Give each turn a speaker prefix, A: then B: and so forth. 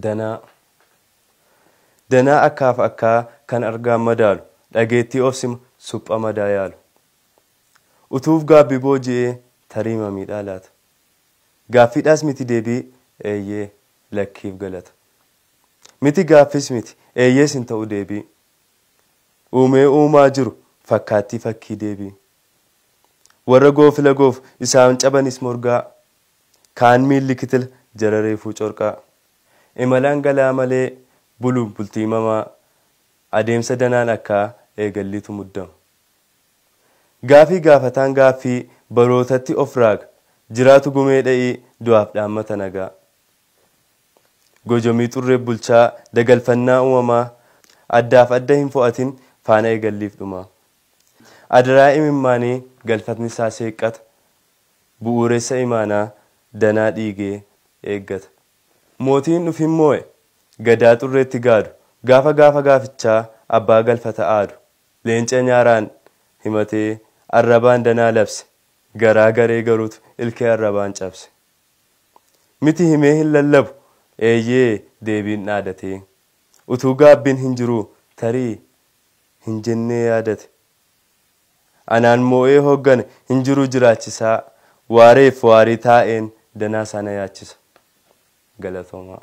A: danaa. Danaa akkaaf akkaa kan argaan madaalu, dhageettii ofsima, supha madaa yaalu. Utuuf gaabbi booji'ee tariima miidhaa laata. Gaaffiidhaas miti deebii eeyyee, lakkiif galata. Miti gaaffiis miti, eeyyees hin ta'u deebii. Uumee uumaa jiru fakkaattii fakkii deebii. Warra goofila goofu isaan cabanis morgaa, Kaan miilli kitila jara reefuu corqaa. Imalaan galaa malee buluuf bultii mamaa adeemsa danaan akkaa eegalliitu muddama. Gaafii gaafataan gaaffii barootatti of raaga jiraatu gumee dha'ii du'aaf dhaammata nagaa. Gojomii xurreef bulchaa dagalfannaa umamaa addaaf adda hin fo'atin faana eegalliif dhumaa. Adaraa imimmaanii galfatni isaa seeqqata bu'uuressa imaanaa danaa dhiigee eeggata. Mootiin dhufin moo'e gadaa xurreetti gaadu gaafa gaafa gaafichaa abbaa galfata aadu leenca nyaaraan himatee arrabaan danaa labse garaa garee garuutu ilkee arrabaan cabse. Miti himee hin lallabu eeyyee deebiin dhaadatee utuu gaabbiin hin jiruu tarii hin jennee yaadate Anaan moo'ee hooggane hin jiruu jiraachisaa waareef waarii taa'een danaa isaa na yaachisa. Galatoomaa.